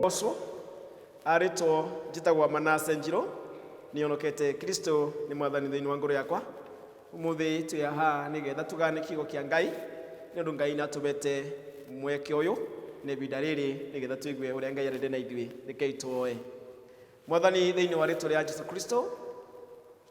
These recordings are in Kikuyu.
ũcio arĩtwo njĩtagwo manase njirũ nĩonokete kristo nĩ mwathani thĩinĩ wa ngoro yakwa ũmũthĩ twĩ aha nĩgetha tũgane kiugo kĩa ngai nĩ ũndũ ngai natũbete mweke ũyũ na ivinda rĩrĩ nĩgetha tũigue ũrĩa ngai arende na ithuĩ rekei twoe mwathani thĩinĩ wa rĩtwa rĩa jesu kristo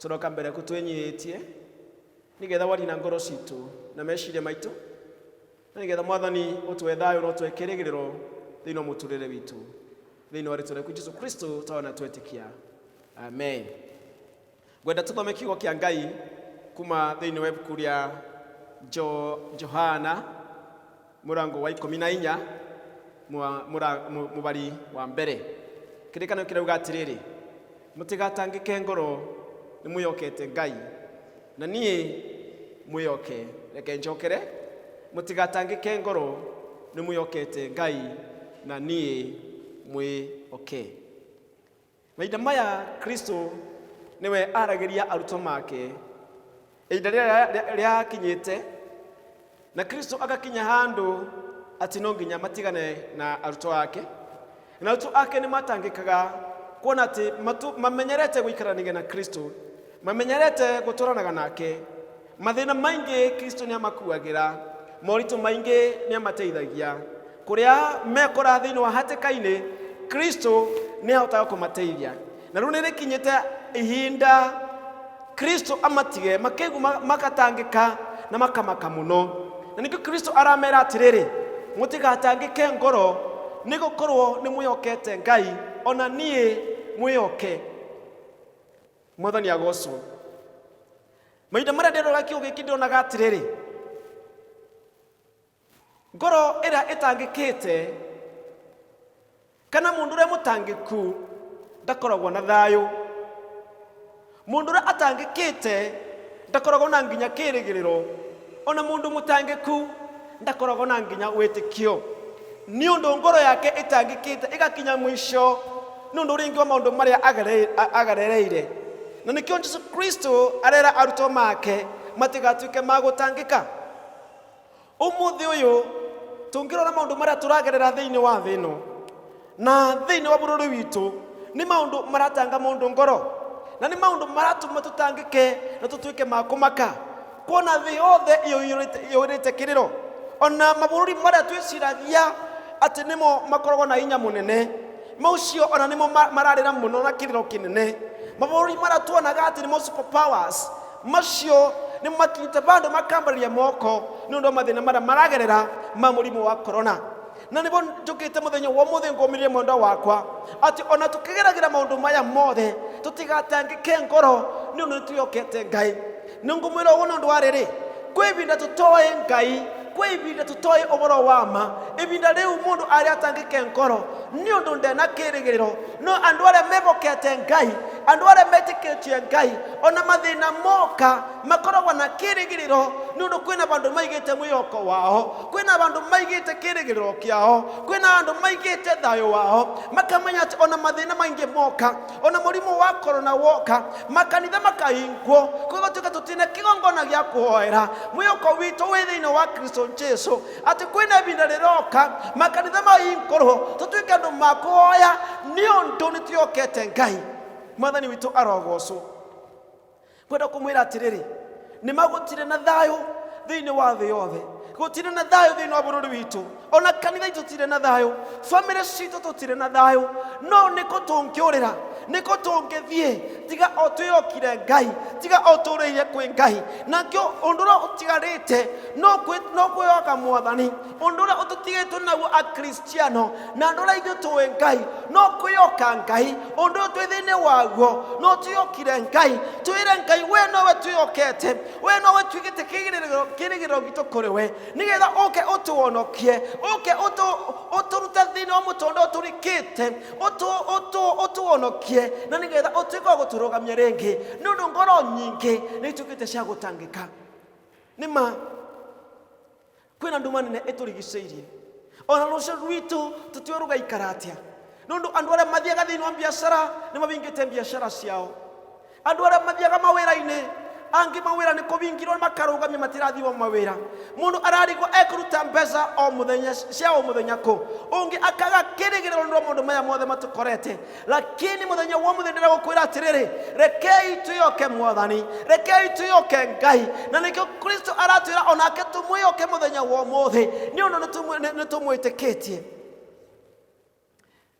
tũroka mbere kũ twĩnyihĩtie nĩgetha warie na ngoro citũ na meciria maitũ na nĩgetha mwathani ũtũhe thayũ na ũtũhe kĩrĩgĩrĩro thĩinĩ wa mũtũrĩre witũ thĩinĩ wa rĩtwa rĩaku jesu kristo tawa na twetĩkia amen ngwenda tũthome kiugo kĩa ngai kuma thĩinĩ wa ibuku rĩa Jo- johana murango wa ikumi na inya mwa- mura- mu- mubari wa mbere kĩrĩkanĩro kĩrauga atĩrĩrĩ mũtigatangĩke ngoro nĩmwĩyokete ngai na niĩ mwĩyoke reke njokere mũtigatangĩke ngoro nĩmwĩyokete ngai na niĩ mwĩyoke Mahinda maya Kristo nĩwe aragĩria arutwo make. Ihinda rĩrĩa rĩakinyĩte na Kristo agakinya handũ atĩ no nginya matigane na arutwo ake. Na arutwo ake nĩ matangĩkaga kuona atĩ matu- mamenyerete gũikaranagia na Kristo, mamenyerete gũtwaranaga nake, Mathĩna maingĩ Kristo nĩ amakuagĩra, moritũ maingĩ nĩ amateithagia. Kũrĩa mekora thĩinĩ wa hatĩka-inĩ, Kristo nĩ ahotaga kũmateithia. Na rĩu nĩ rĩkinyĩte ihinda Kristo amatige, makegu- ma- magatangĩka na makamaka mũno. Na nĩkĩo Kristo aramera atĩrĩrĩ, mũtigatangĩke ngoro, nĩ gũkorwo nĩ mwĩhokete Ngai, ona niĩ mwĩhoke. mwathani agocwo mahinda marĩa nderoga kiu gĩkĩ ndĩronaga atĩrĩrĩ ngoro ĩrĩa ĩtangĩkĩte kana mũndũ ũrĩa mũtangĩku ndakoragwo na thayũ mũndũ ũrĩa atangĩkĩte Ndakoragwo na nginya kĩĩrĩgĩrĩro. O na mũndũ mũtangĩku ndakoragwo na nginya wĩtĩkio, nĩ ũndũ ngoro yake ĩtangĩkĩte ĩgakinya mũico nĩ ũndũ rĩngĩ wa maũndũ marĩa agerereire. Na nĩkĩo Jesu Kristo arera arutwo make matigatuĩke ma gũtangĩka. Ũmũthĩ ũyũ tũngĩrora maũndũ marĩa tũragerera thĩinĩ wa thĩ ĩno na thĩinĩ wa bũrũri witũ, nĩ maũndũ maratanga mũndũ ngoro na nĩ maũndũ maratũma tũtangĩke na tũtuĩke ma kũmaka kuona thĩ yothe ĩyũirĩte- ĩyũirĩte kĩrĩro ona mabũrũri marĩa twĩciragia atĩ nĩmo makoragwo na hinya mũnene macio ona nĩmo ma- mararĩra mũno na kĩrĩro kĩnene mabũrũri marĩa tuonaga atĩ nĩmo super powers Macio nĩ makinyĩte bandũ makambarĩria moko nĩ ũndũ wa mathĩna marĩa maragerera ma mũrimũ wa korona na nĩbo njũkĩte mũthenya wa ũmũthĩ ngũmĩrĩrie mwendwa wakwa atĩ ona tũkĩgeragĩra maũndũ maya mothe tũtigatangĩke ngoro nĩ ũndũ nĩtwĩhokete ngai nĩ ngũmwĩra ũguo nĩ ũndũ wa rĩrĩ kwĩ ivinda tũtoĩ ngai kwĩ ivinda tũtoĩ ũboro wa ma ivinda rĩu mũndũ arĩa atangĩke ngoro nĩ ũndũ ndena kĩrĩgĩrĩro no andũ arĩa mehokete ngai andũ arĩa metĩkĩtie ngai ona mathĩna moka makoragwo na kĩrĩgĩrĩro nĩ ũndũ kwĩna bandũ maigĩte mwĩhoko wao kwĩna bandũ maigĩte kĩrĩgĩrĩro kĩao kwĩna andũ maigĩte thayũ wao makamenya atĩ ona mathĩna maingĩ moka ona mũrimũ wa korona woka makanitha makahingwo kũgatuĩka tũtina kĩgongona gĩa kũhoera mwĩhoko witũ wĩ thĩinĩ wa kristo jesu atĩ kwĩna ihinda rĩroka makanitha mahingũrwo tũtuĩke andũ ma kũhoya nĩ ũndũ nĩ twĩhokete ngai mwathani witũ arogocwo kwenda kũmwĩra atĩrĩrĩ nĩ magũtirĩ na thayũ thĩinĩ wa thĩ yothe gũtirĩ na thayũ thĩinĩ wa bũrũri witũ ona kanitha itũ tirĩ na thayũ bamĩrĩ citũ tũtirĩ na thayũ no nĩkũ tũngĩũrĩra nĩkũ tũngĩthiĩ tiga o twĩyokire ngai tiga o tũrĩire kwĩ ngai nakĩo ũndũ ũrĩa ũtigarĩte no kwĩ- no kwĩyoka mwathani ũndũ ũrĩa ũtũtigĩtwo naguo akristiano na andũ ũrĩa ithuĩ tũĩ ngai no kwĩyoka ngai ũndũ ũyũ twĩ thĩinĩ waguo no twĩyokire ngai twĩre ngai we nowe twĩyokete we nowe twĩgĩte kĩgirĩrĩro- kĩrĩgĩrĩro gitũ kũrĩ we nĩgetha ũke ũtũonokie ũke ũtũ- ũtũrute thĩinĩ wa mũtũndũ ũyũ tũrikĩte ũtũ- ũtũ- ũtũonokie na nĩgetha ũtuĩke wa gũtũrũgamia rĩngĩ nĩ ũndũ ngoro nyingĩ nĩ ituĩkĩte cia gũtangĩka nĩ ma kwĩna nduma nene ĩtũrigicĩirie ona rũcio rwitũ tũtiũĩ rũgaikara atĩa nĩ ũndũ andũ arĩa mathiaga thĩinĩ wa biacara nĩ mabingĩte biacara ciao andũ arĩa mathiaga mawĩra-inĩ angĩ mawĩra nĩ kũbingirwo makarũgamia matirathiĩ wa mawĩra mũndũ ararigwo ekũruta mbeca o mũthenya cia o mũthenya kũ ũngĩ akaga kĩrĩgĩrĩro nĩ ũndũ wa maũndũ maya mothe matũkorete lakini muthenya wa muthenya ndĩragũkwĩra atĩrĩrĩ rekei twĩyoke mwathani rekei twĩyoke ngai na nĩkĩo kristo aratwĩra onake tũmwĩyoke mũthenya wa ũmũthĩ nĩ ũndũ nĩtũmwĩ- nĩ- nĩtũmwĩtĩkĩtie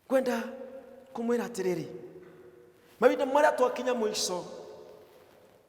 kwenda kũmwĩra atĩrĩrĩ mahinda marĩa twakinya mũico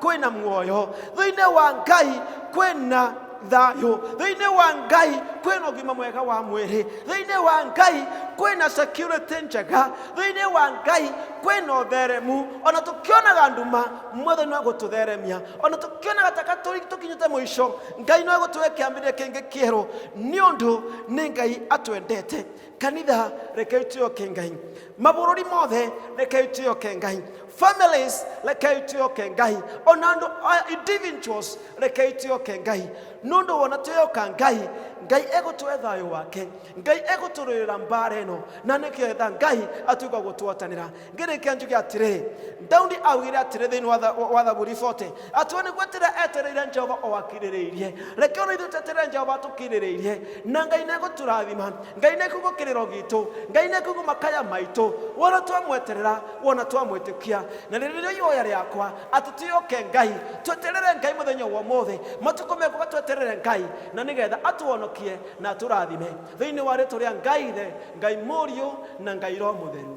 kwĩna muoyo thĩinĩ wa ngai kwĩna thayũ thĩinĩ wa ngai kwĩna ũgima mwega wa mwĩrĩ thĩinĩ wa ngai kwĩna security njega thĩinĩ wa ngai kwĩna ũtheremu ona tũkĩonaga nduma mwothe no gũtũtheremia ona tũkĩonaga taka tũri- tũkinyĩte mũico ngai no gũtũhe kĩambĩrĩria kĩngĩ kĩerũ nĩ ũndũ nĩ ngai atwendete kanitha rekei tuyoke ngai mabũrũri mothe rekei tuyoke ngai families rekei tuyoke ngai ona andũ a- individuals rekei tuyoke ngai nũndũ wona tuyoka ngai ngai egũtũhe thayũ wake ngai egũtũrũĩra mbara ĩno na nĩgetha ngai atuĩka gũtwatanĩra ngĩrĩkia njuge atĩrĩrĩ daudi augire atĩrĩ thĩinĩ wa tha- wa thaburi 40 atĩ we nĩguo atĩrĩ etereire jehova o akirĩrĩirie reke ona ithuĩ tweterere jehova tũkirĩrĩirie na ngai nĩgũtũrathima ngai nĩkuga kĩrĩro gitũ ngai nĩkuga makaya maitũ wona twamweterera wona twamwĩtĩkia na rĩrĩ nĩrĩo ihoya rĩakwa atĩ tũyoke ngai tweterere ngai mũthenya wa ũmũthĩ matukũ mekuga tweterere ngai na nĩgetha atũhonokie na atũrathime thĩinĩ wa rĩtũ rĩa ngai ithe ngai mũriũ na ngai roho mũtheru